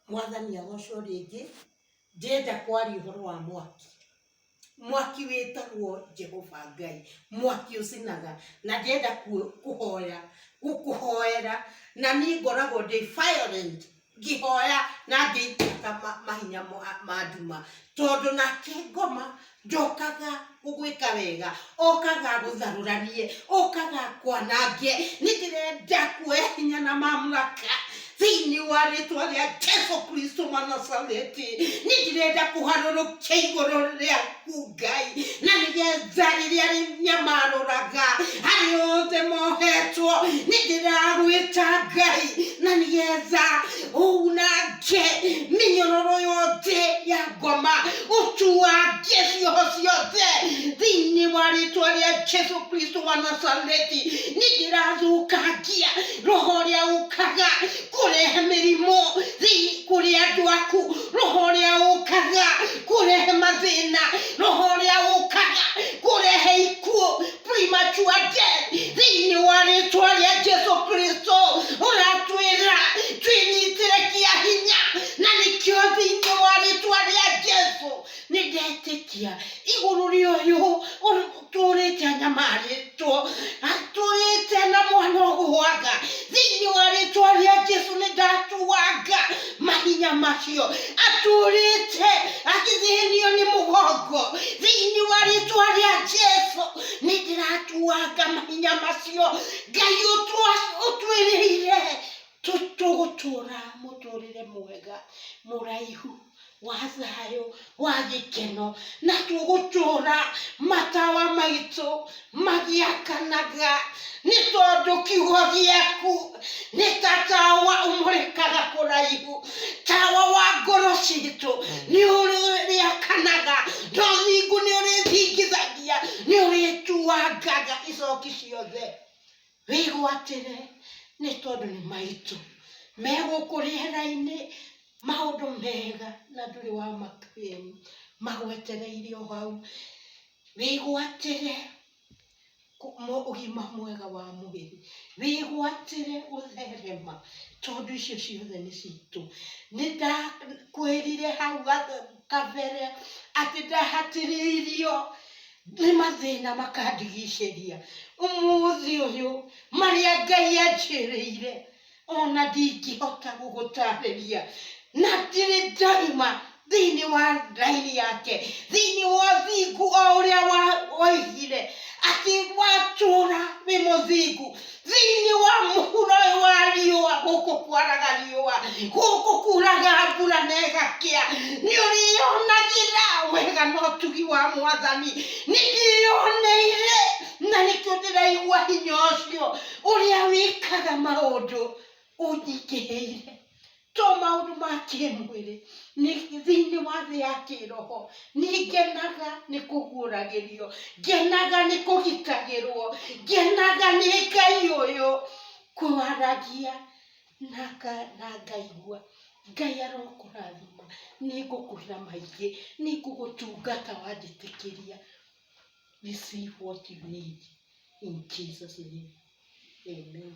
Mwathani agocwo rĩngĩ, ndĩrenda kwaria ũhoro wa mwaki. Mwaki wĩtagwo Jehova Ngai, mwaki ũcinaga, na ndĩrenda kũhoya, gũkũhoera, na niĩ ngoragwo ndĩ violent ngĩhoya na ngĩita mahinya ma nduma, tondũ nake ngoma ndokaga gũgwĩka wega okaga agũtharũranie okaga akwanange nĩ ndĩrenda kuoya hinya na mamlaka thĩinĩ wa rĩtwa rĩa jesu kristo manasareti nĩ ndĩrenda kũharũrũkia igũrũ rĩaku ngai na nĩgetha rĩrĩa rĩnyamarũraga harĩ othe mohetwo nĩ ndĩragwĩta ngai na nĩgetha unange mĩnyororo yothe ya ngoma ũtuange cioho ciothe thĩinĩ wa rĩtwa rĩa jesu kristo wa nazareti nĩ ndĩrathũkangia roho ũrĩa ũkaga kũrehe mĩrimũ thĩinĩ kũrĩ andũ aku roho ũrĩa ũkaga kũrehe mathĩna roho ũrĩa ũkaga kũrehe ikuũ premature death thĩinĩ wa rĩtwa rĩa jesu kristo ũratwĩra twĩnyitĩre kĩa hinya na nĩkĩo thĩinĩ wa rĩtwa rĩa jesu nĩ ndetĩkia igũrũ rĩa ũyũ ũrĩ- tũrĩte anyamarĩtwo tũrĩte na mwana ũgwanga thĩinĩ wa rĩtwa rĩa jesu nĩ ndatuanga mahinya macio atũrĩte akĩthĩnio nĩ mũgongo thĩinĩ wa rĩtwa rĩa jesu nĩ ndĩratuanga mahinya macio ngai ũtwa- ũtwĩrĩire tũ- tũgũtũra mũtũrĩre mwega mũraihu wa thayũ wa gĩkeno, na tũgũtũũra matawa maitũ magĩakanaga, nĩ tondũ kiugo gĩaku nĩ ta tawa ũmũrĩkaga kũraihu, tawa wa ngoro citũ nĩ ũrĩakanaga, na ũthingu nĩ ũrĩthingithagia, nĩ ũrĩtuangaga icoki ciothe. Wĩgwatĩre nĩ tondũ nĩ maitũ. Me gũkũ rĩera-inĩ, maũndũ mega na ndũrĩ wa maka rĩu. Magwetereire o hau. Wĩgwatĩre ũgima mwega wa mwĩrĩ. Wĩgwatĩre gũtherema tondũ icio ciothe nĩ citũ. Nĩ ndakwĩrire hau kabere. kabere atĩ ndahatĩrĩirio nĩ mathĩna makandigicĩria ũmũthĩ ũyũ marĩa ngai anjĩrĩire ona ndingĩhota gũgũtarĩria na ndirĩ ndaima thĩinĩ wa raini yake thĩinĩ wa ũthingu o ũrĩa wa- waigire atĩ watũra wĩ mũthingu thĩinĩ wa mũhuro ũyũ wa riũa gũkũ kwaraga riũa gũkũ kuraga mbura na ĩgakĩa nĩ ũrĩyonagĩra wega na ũtugi wa mwathani nĩ ndĩyoneire na nĩkĩo ndĩraigua hinya ũcio ũrĩa wĩkaga maũndũ ũnyingĩhĩire to maũndũ ma kĩmwĩrĩ nĩ- thĩinĩ wa thĩ ya kĩroho nĩngenaga nĩ kũguũragĩrio ngenaga nĩ kũgitagĩrwo ngenaga nĩ ngai ũyũ kwaragia na nga- na ngaigua ngai arokũrathima nĩ ngũkwĩra maingĩ nĩ ngũgũtungata wanjĩtĩkĩria receive what you need in Jesus name amen